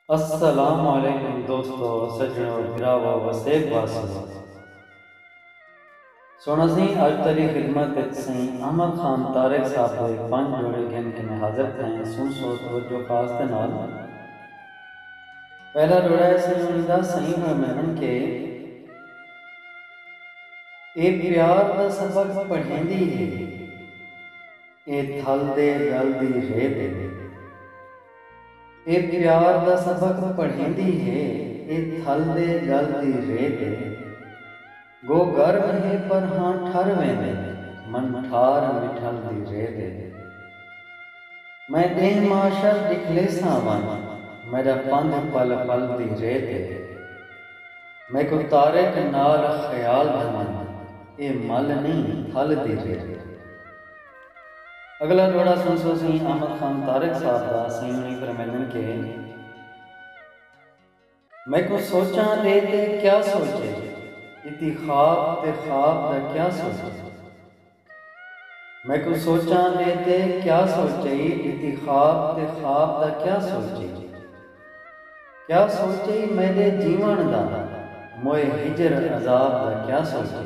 السلام علیکم دوستو سجنو بھراوو وسیب واسیو سونا سئیں اج تہاڈی خدمت وچ سئیں احمد خان طارق صاحب دے پنج جوڑے گھن کے میں حاضر تھئیں سن سو توجہ خاص دے نال پہلا جوڑا ہے سئیں انہاں دا سئیں فرمائن کے اے پیار دا سبق پڑھیندی ہے اے تھل دے ڳل دی رے ݙیندی ہے۔ اے پیار دا سبق پڑھیندی ہے۔ اے تھل دے ڳل دی رے ݙیندی ہے۔ گو گرم ہے پر ہاں ٹھر ویندی ہے۔ من ٹھار مٹھل دی رے ݙیندی ہے۔ میں ݙینہہ معاشر ݙکھلیساں ونڄ۔ میݙا پندھ پل پل دی رے ݙیندی ہے۔ میکوں طارق نال خیال گھمن۔ اے مل نئیں تھل دی رے ݙیندی ہے۔ اگلا جوڑا سنسو سیں احمد خان طارق صاحب دا سیوݨی فرمیندن کہ۔ میکوں سوچاں ݙے تے کیا سوچے اتی خواب تے خواب دا کیا سوچے میکوں سوچاں ݙے تے کیا سوچے اتی خواب تے خواب دا کیا سوچے کیا سوچے میݙے جیوݨ دا موئے ہجر عذاب دا کیا سوچے۔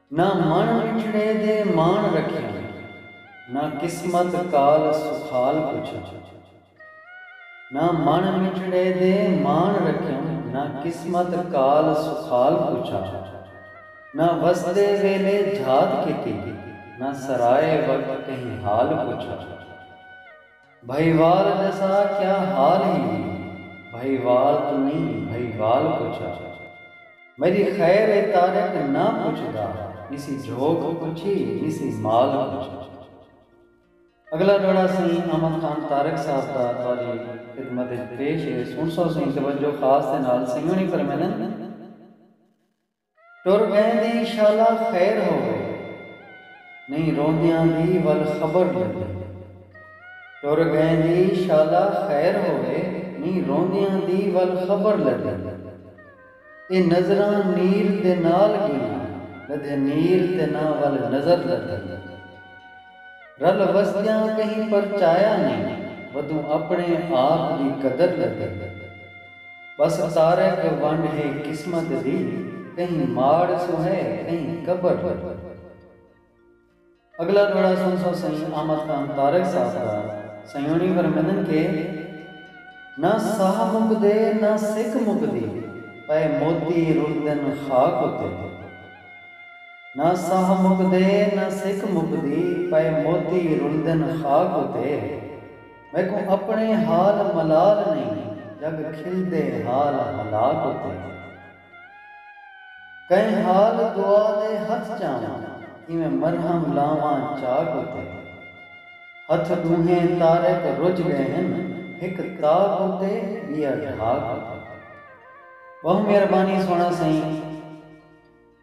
نہ مݨ مٹھڑے دے ماݨ رکھیاں۔ نہ قسمت کال سکھال پچھاں۔ نہ مݨ مٹھڑے دے ماݨ رکھیاں۔ نہ قسمت کال سکھال پچھا۔ نہ وسدے ویلے جھات کیتی۔ نہ سرائے وقت کہیں حال پچھا۔ بھئیوال جسا کیا حال ہی وی بھئیوال توں نی بھئیوال پچھا میڈی خیر اے طارق نہ پچھدا نسی جھوک پچھی نسی مال پچھا اگلا ڈوڑا سئیں احمد خان طارق صاحب دا تہاڈی خدمت اچ پیش اے سنڑسو سئیں توجہ خاص دے نال سئیں ہنڑی فرمیندن۔ ٹر ٻہیں دی شالا خیر ہووے نئیں روندیاں دی ول خبر لگی ٹر ڳئیں دی شالا خیر ہووے نئیں روندیاں دی ول خبر لگی اے نظراں نیر دے نال ڳیاں لدھے نیر تے نہ ول نظر لدھی۔ رل وسدیاں کہیں پرچایا نئیں ودوں اپݨے آپ دی قدر لڳے ٻس طارق ونڈ ہے قسمت دی کہیں ماڑ سوں ہے کہیں قبر لڳے۔ اڳلا ݙوہڑا سݨ سو سئیں احمد خان طارق صاحب دا سئیوݨی فرمیندن کہ نہ ساہ مکدے نہ سک مکدی پئے موتی رلدن خاک اتے۔ نہ ساہ مکدے نہ سک مکدی پئے موتی رلدن خاک اتے میکوں اپݨے حال ملال نئیں جگ کھلدے حال ہلاک اتے کئیں حال دعا دے ہتھ چاواں کیویں مرہم لاواں چاک اتے ہتھ ݙونہیں طارق رڄ ڳئے ہن ہک طاق اتے ٻیا ڈھاک اتے ٻہوں مہربانی سوہݨا سئیں۔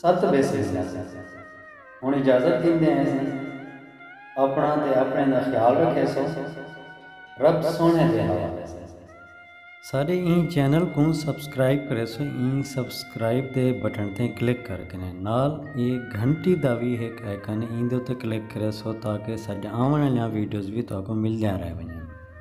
ست بھیس ویندا سی۔ ہن اجازت گھندے ہیسوں۔ اپݨا تے اپݨیں دا خیال رکھیسو۔ رب سوہݨے دے حوالے سئیں۔ ساݙے ایں چینل کوں سبسکرائب کریسو ایں سبسکرائب دے بٹن تے کلک کر کنیں نال اے گھنٹی دا وی ہک آئیکن ایں دے اتے کلک کریسو تاکہ ساݙیاں آوݨ آلیاں ویڈیوز وی تہاکوں ملدیاں رہ ونڄن۔